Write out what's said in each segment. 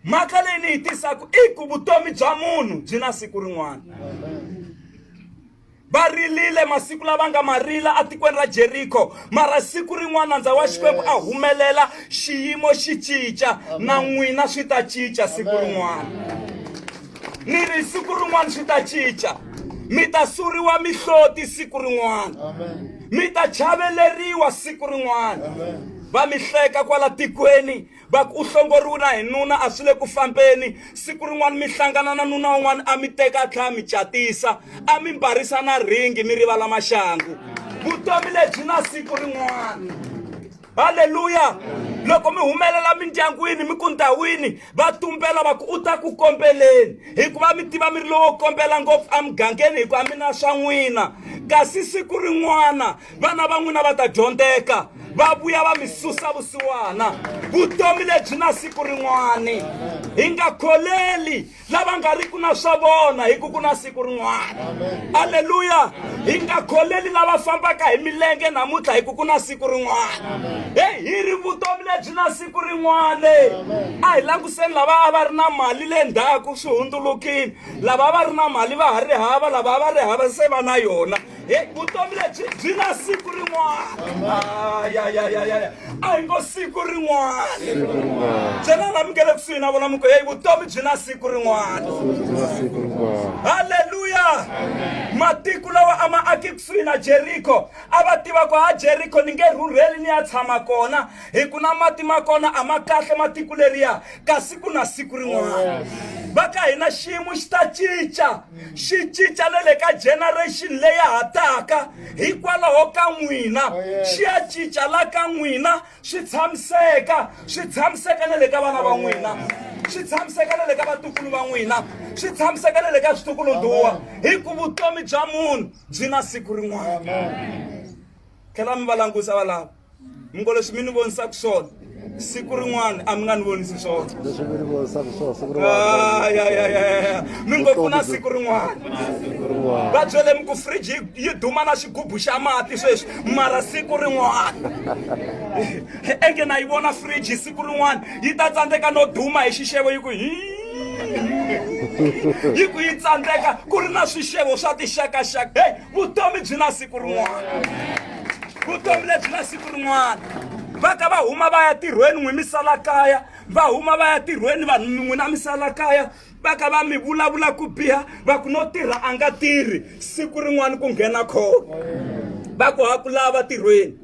mhaka leyi ni yi tisaka i ku vutomi bya munhu byi na siku rin'wana va rilile masiku lava nga ma rila etikweni ra jeriko mara siku rin'wana ndza wa xikwembu a humelela xiyimo xi cinca na n'wina swi ta cinca siku rin'wana ni ri siku rin'wana swi ta cinca mi ta suriwa mihloti siku rin'wana mi ta chaveleriwa siku rin'wana va mi hleka kwala tikweni va ku u hlongoriwe na hi nuna a swi le ku fambeni siku rin'wana mi hlangana na nuna un'wana a mi teka a tlhela mi catisa a mi mbarisa na ringi mi rivala maxangu vutomi lebyi na siku rin'wana haleluya loko mi humelela mindyangwini mi ku ndhawini va tumbela va ku u ta ku kombeleni hikuva mi tiva mi ri lowo kombela ngopfu emugangeni hikuva mi na swa n'wina kasi siku rin'wana vana va n'wina va ta dyondzeka va vuya va mi susa vusiwana vutomi lebyi na siku rin'wani hi nga kholeli lava nga ri ku na swa vona hi ku ku na siku rin'wana aleluya hi nga kholeli lava fambaka hi milenge namuntlha hi ku ku na siku rin'wana heyi hi ri vutomi lebyi na siku rin'wana a hi languseni lava a va ri na mali le ndzhaku swi hundzulukile lava a va ri na mali va ha ri hava lava a va ri hava se va na yona Hey, vutomi lebyi byi na siku rin'wana ayayayaya a hi ngo siku rin'wana byela lami nge le kusuhi na vona muko heyi vutomi byi na siku rin'wana halleluya matiko lawa a ma aki kusuhi na jeriko a va tiva ku ha jeriko ni nge rhurheli ni ya tshama kona hi ku na mati ma kona a ma kahle matiko leriya kasi ku na siku rin'wana va ka hina xiyimo xi ta cinca xi cinca na le ka generation leya ha taka hikwalaho ka n'wina oh, xi ya cinca la ka n'wina swi tshamiseka swi tshamiseka na le ka vana va n'wina swi tshamiseka na le ka vatukulu va n'wina swi tshamiseka na le ka switukuluduwa hi ku vutomi bya munhu byi na siku rin'wana tlhela mi va langusa valava mi ngo leswi mi ni vonisaka swona siku rin'wana a mi nga ni vonisi swona leswi mi ni vonisaka swona siku rin'wana mi ngo ku na siku rin'wana va byele mi ku fridge yi duma na xigubu xa mati sweswi mara siku rin'wana enge na yi vona fridge siku rin'wana yi ta tsandzeka no duma hi xixevo yi ku hi yi ku yi tsandzeka ku ri na swixevo swa tixakaxaka hey vutomi byi na siku rin'wana vutomi lebyi na siku rin'wana va ka va huma va ya tirhweni n'wi mi sala kaya va huma va ya tirhweni vanhu n'wi na mi sala kaya va ka va mi vulavula ku biha va ku no tirha a nga tirhi siku rin'wana ku nghena khona va ku ha ku lava tirhweni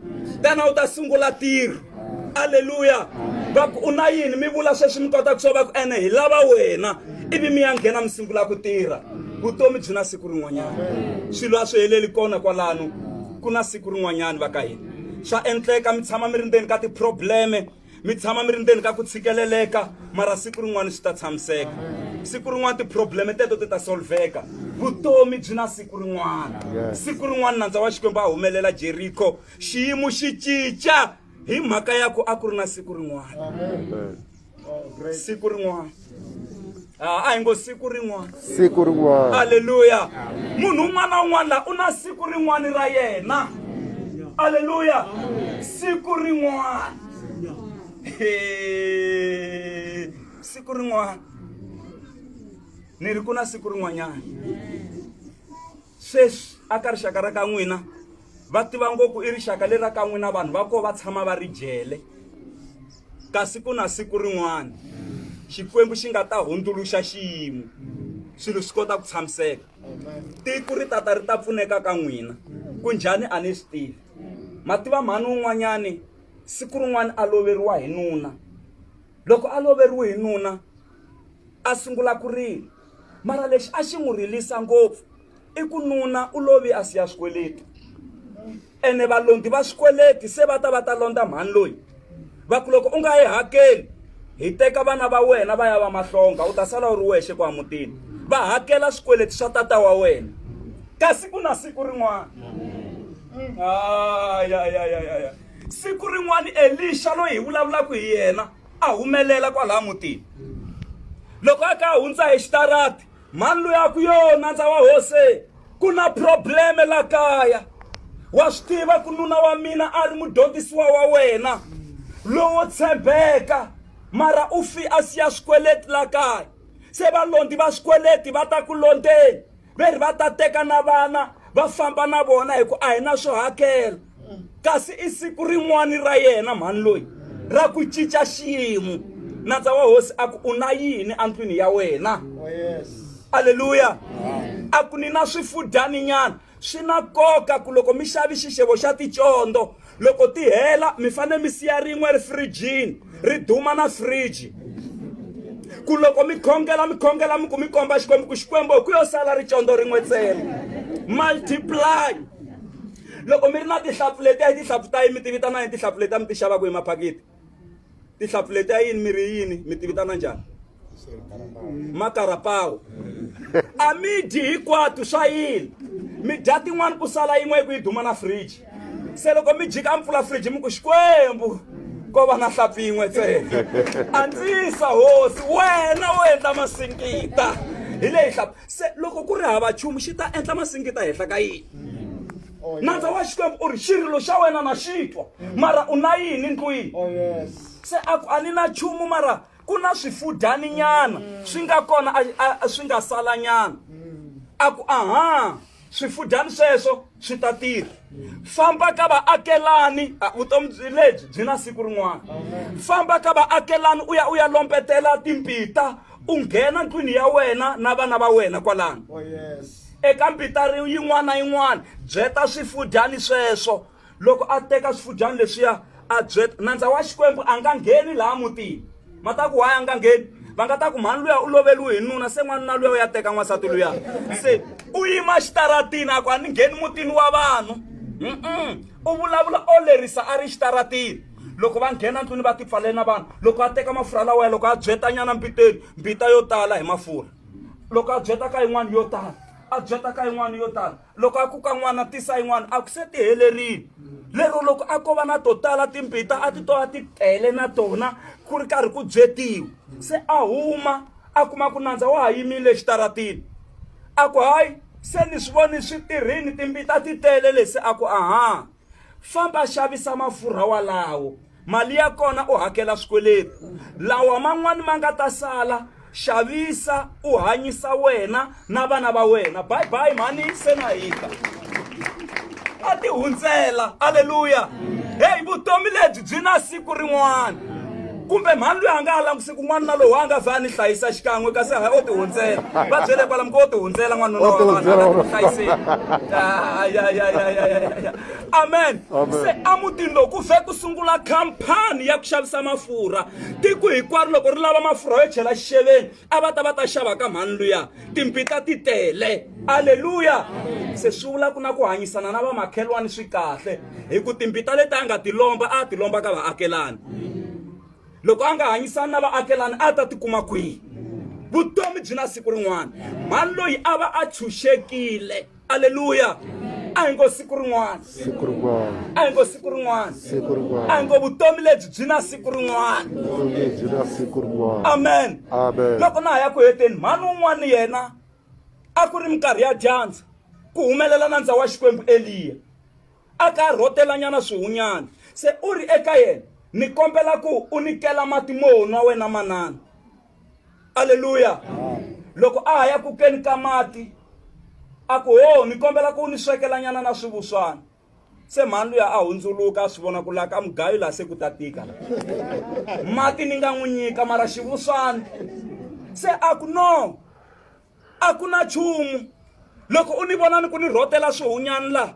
tana u ta sungula tirho aleluya va ku u na yini mi vula sweswi mi kota ku swo va ku ene hi lava wena ivi mi ya nghena mi sungula ku tirha vutomi byi na siku rin'wanyana swilo a swi heleli kona kwalano ku na siku rin'wanyana va ka hina swa endleka mi tshama mi ri ndzeni ka ti-probleme mi tshama mi ri ndzeni ka ku tshikeleleka mara siku rin'wana swi ta tshamiseka siku rin'wana ti-probleme teto ti ta solveka vutomi byi na siku rin'wana siku rin'wana nandza wa xikwembu a humelela jeriko xiyimo xi cinca hi mhaka ya ku a ku ri na siku rin'wana siku rin'wana Ah, a hi ngo siku rin'wana siku rin'wana aleluya munhu un'wana na un'wana la u na siku rin'wana ra yena aleluya siku rin'wana He, siku rin'wana ni ri ku na siku rin'wanyana sweswi aka rixaka ra ka n'wina Va tiva ngo ku i rixaka leri ra ka n'wina vanhu va koho va tshama va ri jele. Kasi ku na siku rin'wana Xikwembu xi nga ta hundzuluxa xiyimo swilo swi kota ku tshamiseka. Tiko ri ta ta ri ta pfuneka ka n'wina. Ku njhani a ni swi tivi. Ma tiva mhani un'wanyani siku rin'wana a loveriwa hi nuna. Loko a loveriwe hi nuna a sungula ku rila mara lexi a xi n'wi rilisa ngopfu i ku nuna u lovi a siya swikweleti ene valondi va swikweleti se va ta va ta londza mhani loyi va ku loko u nga yi hakeli hi teka vana va wena va ya va mahlonga u ta sala u ri wexe ku amutini va hakela swikweleti swa tata wa wena ka siku na siku rin'wana ayayayaya mm. siku rin'wana elixa loyi hi vulavulaka hi yena a humelela kwalaha mutini loko a ka a hundza hi xitarati mhani loyi a ku yo nandza wa hose ku na probleme la kaya wa swi tiva ku nuna wa mina a ri mudyondzisiwa wa wena lowo tshembeka mara u fi a siya swikweleti la kaya se valondi va swikweleti va ta ku londeni ve ri va ta teka na vana va famba na vona hi ku a hi na swo hakela kasi i siku rin'wani ra yena mhani loyi ra ku cinca xiyimo nandza wa hosi a ku u na yini endlwini ya wena aleluya a ku ni na swifudyani nyana swi na nkoka ku loko mi xavi xixevo xa ticondo loko ti hela mi fanele mi siya rin'we ri firijini ri duma na firiji ku loko mi khongela mi khongela mi ku mi komba xikwembu ku xikwembu hi ku yo sala ricondo rin'we ntsena multiply loko mi ri na tihlampfu letiya hi tihlampfu ta yini mi ti vitana yini tihlampfu letiya mi ti xavaka hi maphaketi tihlampfu letiya yini mi ri yini mi ti vitana njhani makarapawo a mi dyi hikwatu swa yini mi dya tin'wani ku sala yin'we yi ku yi duma na fridge se loko mi jika a mi pfula fridge mi ku xikwembu ko va na hlampfi yin'we ntsena andzisa hosi wena wo endla masinkita hi leyi hlampfi se loko ku ri hava chumu xi ta endla masingita henhla ka yini oh, nandza wa xikwembu u ri xirilo xa wena na xi twa mara u na yini ndlwini oh, se a ku a ni na chumu mara ku na swifudyani nyana swi nga kona swi nga sala nyana a ku aha swifudyani sweswo swi ta tirha famba ka vaakelani vutomi byi lebyi byi na siku rin'wana famba ka vaakelani u ya u ya lompetela timpita u nghena ndlwini ya wena na vana va wena kwalano oh, eka mpita yin'wana na yin'wana byeta swifudyani sweswo loko a teka swifudyani leswiya a byeta nandza wa xikwembu a nga ngheni laha mutini ma ta ku waya a nga ngheni va nga ta ku mhani luya u loveliwe hi nuna se n'wanuna luya u ya teka n'wansati luya se u yima xitaratini a ku a ni ngheni mutini wa vanhu u vulavula o lerisa a ri xitaratini loko va nghena ndlwini va tipfalele na vanhu loko a teka mafurha lawa ya loko a byetanyana mbiteni mbita yo tala hi mafurha loko a byeta ka yin'wana yo tala a byeta ka yin'wana yo tala loko a kuka n'wana tisa yin'wana a ku se ti helerile lero loko a ko va na to tala timbita a ti to a ti tele na tona ku ri karhi ku byetiwa se a huma a kuma ku nandza wa ha yimile exitaratini a ku hayi se ni swi voni swi tirhini timbita ti tele lesi a ku aha famba xavisa mafurha walawo mali ya kona u hakela swikweleti lawa man'wani ma nga ta sala xavisa u hanyisa wena na vana va wena bye bye mhani se na hika a ti hundzela aleluya heyi vutomi lebyi byi na siku rin'wana kumbe mhani loyi a nga ha languse kun'wana na lowu a nga vha a ni hlayisa xikan'we kasi hayi o tihundzela va byele kwalamu ko o tihundzela n'wanuna wa vanhu ala ku hlayiseni amen se emutini lowu ku vhe ku sungula khampani ya ku xavisa mafurha tiko hinkwaro loko ri lava mafurha yo chela xixeveni a va ta va ta xava ka mhani luya timpita ti tele aleluya se swi vula ku na ku hanyisana na vamakhelwani swi kahle hi ku timpita leti a nga ti lomba a ti lomba ka vaakelani loko a nga hanyisani na vaakelani a ta tikuma kwihi vutomi byi na siku rin'wana mhani loyi a va a tshunxekile aleluya a hi ngo siku rin'wana siku rin'wana a hi ngo siku rin'wana siku rin'wana a hi ngo vutomi lebyi byi na siku rin'wana vutomi lebyi na siku rin'wana amen amen loko na ha ya ku heteni mhani un'wana yena a ku ri minkarhi ya dyandza ku humelela na ndza wa xikwembu eliya a ka a rhotelanyana swihunyana se u ri eka yena ni kombela ku u nikela mati mo nwa wena manana aleluya loko a ha ya ku keni ka mati a ku ho ni kombela ku ni swekelanyana na swivuswana se mhani luya a hundzuluka a swi vona ku laha ka mugayo laha se ku ta tika la mati ni nga n'wi nyika mara xivuswana se a ku no a ku na nchumu loko u ni vona ni ku ni rhotela swihunyani laha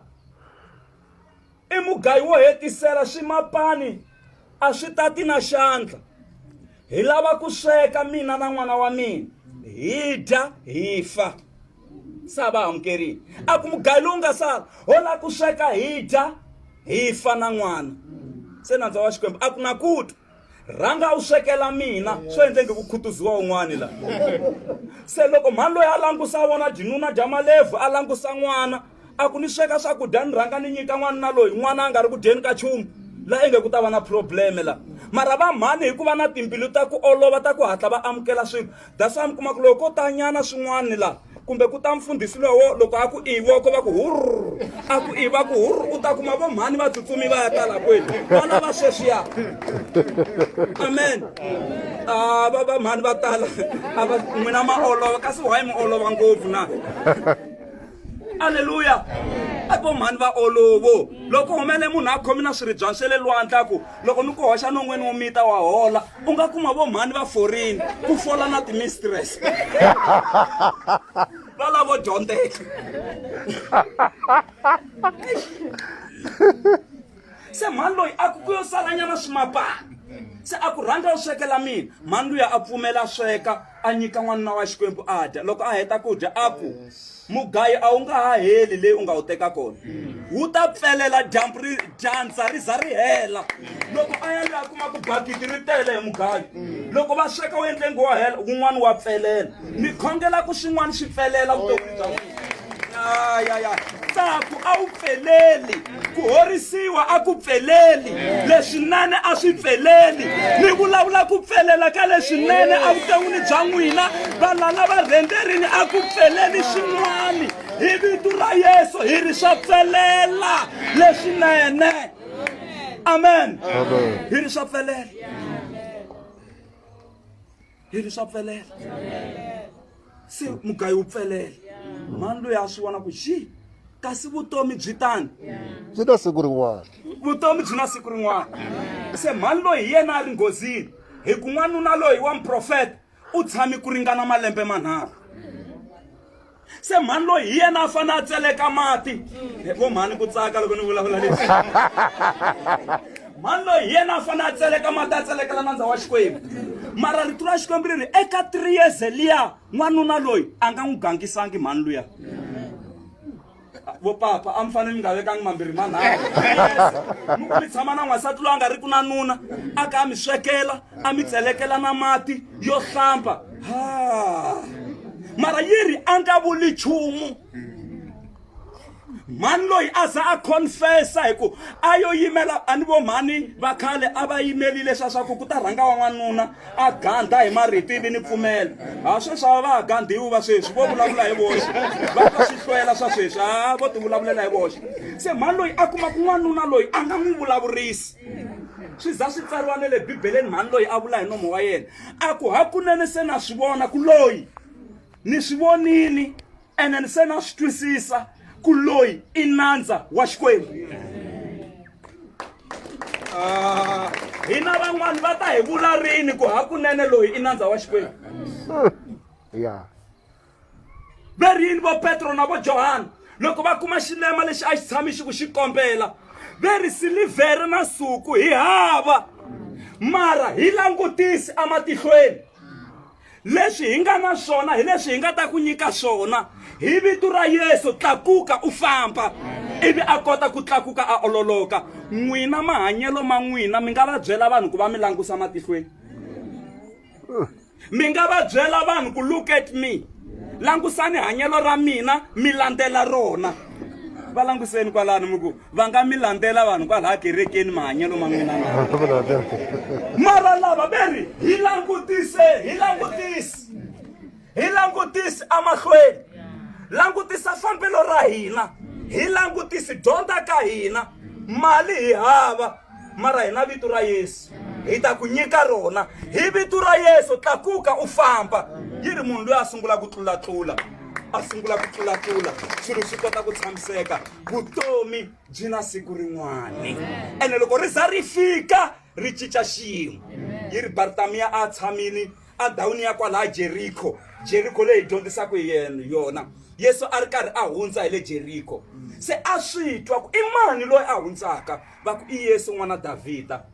i mugayi wo hetisela swimapani a swi ta ti na xandla hi lava ku sweka mina na n'wana wa mina hi dya hi fa se a va amukerile a ku mugayi lowu nga sala ho la ku sweka hi dya hi fa na n'wana se nandza wa xikwembu a ku na ku ta rhanga u swekela mina swo endle nge ku khutuziwa un'wani la se loko mhani loyi a langusa vona jinuna dya malevhu a langusa n'wana a ku ni sweka swakudya ni rhanga ni nyika n'wana na loyi n'wana a nga ri ku dyeni ka chumu la inge ku ta va na probleme la mara va mhani hikuva na timbilu ta ku olova ta ku hatla va amukela swilo That's why mi kuma ku loko ko ta nyana swin'wana la kumbe ku ta mfundhisi lowo loko a ku i voko va ku hurr a ku i va ku hurr u ta kuma vo mhani va tsutsumi va ya tala kwenu vana va sweswiya amen a va va mhani va tala a va n'wina ma olova kasi why mi olova ngopfu na aleluya a vo mhani va olovo loko humele munhu a khomi na swiribyani swe le lwandla ku loko ni ku hoxa non'weni wo mita wa hola u nga kuma vo mhani va forini ku fola na timistress va lavo dyondzeka se mhani loyi a ku ku yo salanyana swimapani se a ku rhanga u swekela mina mhani luya a pfumela sweka a nyika n'wanuna wa xikwembu a dya loko a heta ku dya a ku mugayi a wu nga ha heli leyi u nga wu teka kona wu ta pfelela dyambu ri dyandza ri za ri hela loko a ya loyi a kuma ku bakiti ri tele hi mugayi loko va sweka wu endle ngo wa hela wun'wana wa pfelela mi khongela ku swin'wana swi pfelela vutomi bya n'wina ya ya tsaku a wu pfeleli ku horisiwa a ku pfeleli leswinene a swi pfeleli mi vulavula ku pfelela ka leswinene a vuton'wini bya n'wina valala va rhenderini a ku pfeleli swin'wana hi vito ra yesu hi ri swa pfelela leswinene amen hi ri swa pfelela yini swa pfelela se mugayi wu pfelela mhani loyi a swi vona ku xi kasi vutomi byi tani byi na siku rin'wana vutomi byi na siku rin'wana se mhani loyi hi yena a ri nghozini hi ku n'wanuna loyi wa muprofeta u tshame ku ringana malembe manharhu se mhani loyi hi yena a fane a tseleka mati vo mhani ku tsaka loko ni vulavula leswi mhani loyi hi yena a fane a tseleka mati a tselekela nandza wa xikwembu mara rito ra xikwembu ri ri eka three years liya n'wanuna loyi a nga n'wi gangisangi mhani luya vo papa a mi fanele mi nga vekangi mambirhi manharhu mi ku mi tshama na n'wansati loyi a nga ri ku na nuna a ka a mi swekela a mi tselekela na mati yo hlamba ha mara yi ri a nga vuli nchumu mhani loyi a za a confessa hi ku a yo yimela a ni vo mhani va khale a va yimelile swa swa ku ku ta rhanga wa n'wanuna a gandha hi marito ivi ni pfumela ha sweswi ava va ha gandhiwi va sweswi vo vulavula hi voxe va twa swihlwela swa sweswi ha vo ti vulavulela hi voxe se mhani loyi a kuma ku n'wanuna loyi a nga n'wi vulavurisi swi za swi tsariwa ne le bibeleni mhani loyi a vula hi nomo wa yena a ku hakunene se na swi vona ku loyi ni swi vonini ene ni se na swi twisisa ku loyi i nandza wa xikwembu ah. hina van'wani va ta hi vula rini ku hakunene loyi i nandza wa xikwembu ya va ri yini vo petro na vo johana loko va kuma xilema lexi a xi tshami xi ku xi kombela ve ri silivhere na suku hi hava mara hi langutisi ematihlweni leswi hi nga na swona hi leswi hi nga ta ku nyika swona hi vito ra yesu tlakuka u famba ivi a kota ku tlakuka a ololoka n'wina mahanyelo ma n'wina mi nga va byela vanhu ku va mi langusa matihlweni mi nga va byela vanhu ku look at me langusani hanyelo ra mina mi landzela rona va languseni kwalano mi ku va nga mi landzela vanhu kwalaha kerekeni mahanyelo ma n'wina mara lava ve ri hi langutise hi langutise hi langutise emahlweni langutisa fambelo ra hina hi langutise dyondza ka hina mali hi hava mara hi na vito ra yesu hi ta ku nyika rona hi vito ra yesu tlakuka u famba yi ri munhu loyi a sungula ku tlulatlula a sungula ku tlulatlula swilo swi kota ku tshamiseka vutomi byi na siku rin'wani ene loko ri za ri fika ri cinca xiyimo yi ri bartamiya a tshamile endhawini ya kwalaha jeriko jeriko leyi dyondzisaka hi yena yona yesu a ri karhi a hundza hi le jeriko se a swi twa ku i mani loyi a hundzaka va ku i yesu n'wana davhida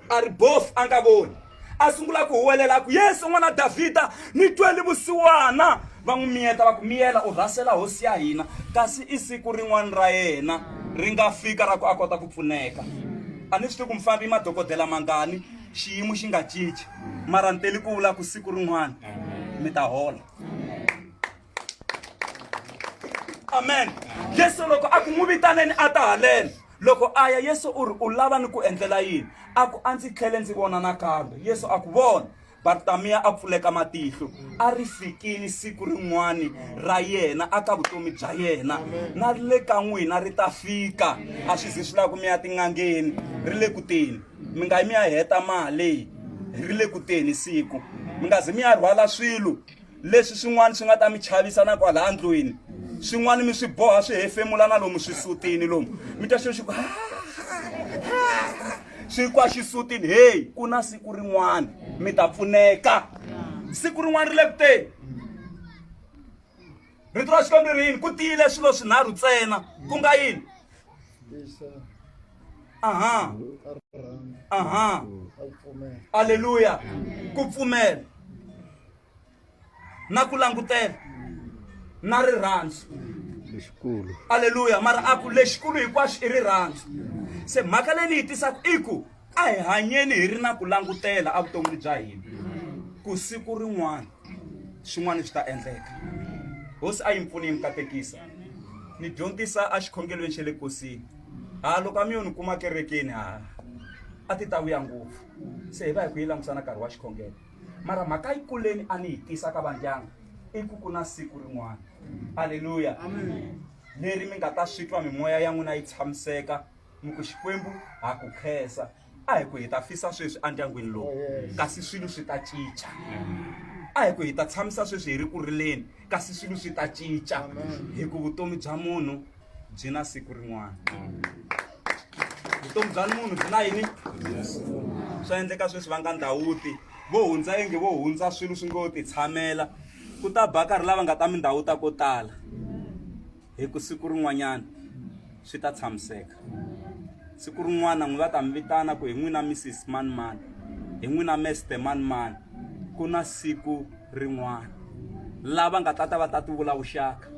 a ri bofu a nga voni a sungula ku huwelela ku yesu n'wana davhida ni tweli vusiwana va n'wi miyeta va ku miyela u rhasela hosi ya hina kasi i siku rin'wana ra yena ri nga fika ra ku a kota ku pfuneka a ni swi tivi ku mufambi i madokodela mangani xiyimo xi nga cinci mara ni teli ku vula ku siku rin'wana mi ta hola amen yesu loko a ku n'wi vitaneni a ta haleni Loko a ya, Yesu u ri, U lava ni ku endlela yini? A ku, A ndzi tlhele ndzi vona nakambe. Yesu a ku, Vona! Bartamiya a pfuleka matihlo. A ri fikile siku rin'wana ra yena aka vutomi bya yena, na le ka n'wina ri ta fika. A swi zi swi lava ku mi ya tin'angeni, ri le ku teni. Mi nga yi mi ya heta mali, ri le ku teni siku. Mi nga zi mi ya rhwala swilo, leswi swin'wana swi nga ta mi chavisa na kwalaha ndlwini swin'wana mi swi boha swi hefemula na lomu swisutini lomu mi ta xo xi ku swi kwa xisutini heyi ku na siku rin'wana mi ta pfuneka siku rin'wana ri le kuteni rito ra xikwembu ri yini ku tiyile swilo swinharhu ntsena ku nga yini aha aha aleluya ku pfumela na ku langutela na rirhandzu lexikulu aleluya mara a ku lexikulu hinkwaxo i rirhandzu se mhaka leyi ni yi tisaka i ku a hi hanyeni hi ri na ku langutela evuton'wini bya hina ku siku rin'wana swin'wana swi ta endleka hosi a yi mi pfuni yi mi katekisa ni dyondzisa exikhongelweni xa le kosini ha loko a mi yo ni kuma kerekeni ha a ti ta vuya ngopfu se hi va hi ku yi langutisa na nkarhi wa xikhongelo mara mhaka yi kuleni a ni yi tisa ka vandyangu i ku ku na siku rin'wana aleluya leri mi nga ta swi twa mimoya ya n'wina yi tshamiseka mi ku xikwembu ha ku khensa a hi ku hi ta fisa sweswi endyangwini lowu kasi swilo swi ta cinca a hi ku hi ta tshamisa sweswi hi ri ku rileni kasi swilo swi ta cinca hi ku vutomi bya munhu byi na siku rin'wana vutomi bya munhu byi na yini swa endleka sweswi va nga ndhawuti vo hundza yenge vo hundza swilo swi ngo ti tshamela ku ta ba karhi lava nga ta mindhawu ta ko tala hi ku siku rin'wanyana swi ta tshamiseka siku rin'wana n'wi va ta mi vitana ku hi n'wina missis mani mani hi n'wina mester mani mani ku na siku rin'wana lava nga ta ta va ta ti vula vuxaka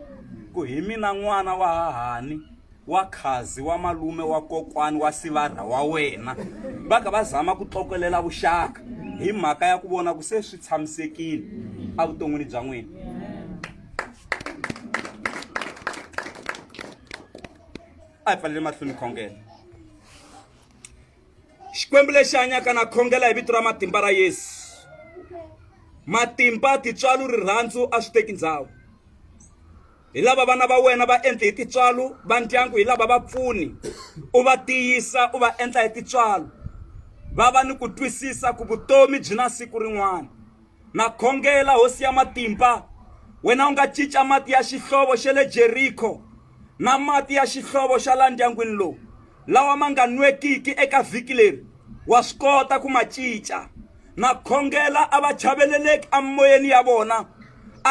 ku hi mina n'wana wa hahani wa khazi wa malume wa kokwani wa sivarha wa wena va ka va zama ku tlokelela vuxaka hi mhaka ya ku vona ku se swi tshamisekile evuton'wini bya n'wina a hi pfalele mahlweni khongela xikwembu lexi hanyaka na khongela hi vito ra matimba ra yesu matimba titswalo rirhandzu a swi teki ndhawu hi lava vana va wena va endle hi titswalo va ndyangu hi lava va pfuni u va tiyisa u va endla hi titswalo va va ni ku twisisa ku vutomi byi na siku rin'wana Na khongela Hosi ya Matimba, wena u nga cinca mati ya xihlovo xa le Jeriko na mati ya xihlovo xa laha ndyangwini lowu, lawa ma nga nwekiki eka vhiki leri, wa swi kota ku ma cinca. Na khongela a va chaveleleki emimoyeni ya vona,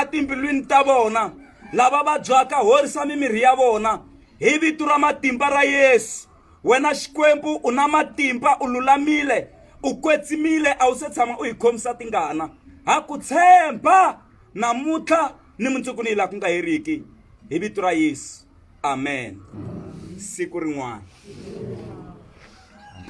etimbilwini ta vona, lava vabyaka, horisa mimirhi ya vona, hi vito ra matimba ra Yesu. wena xikwembu u na matimba u lulamile u kwetsimile a wu se tshama u hi khomisa tingana ha ku tshemba namuntlha ni mundzuku ni yi laha ku nga heriki hi vito ra yesu amen siku rin'wana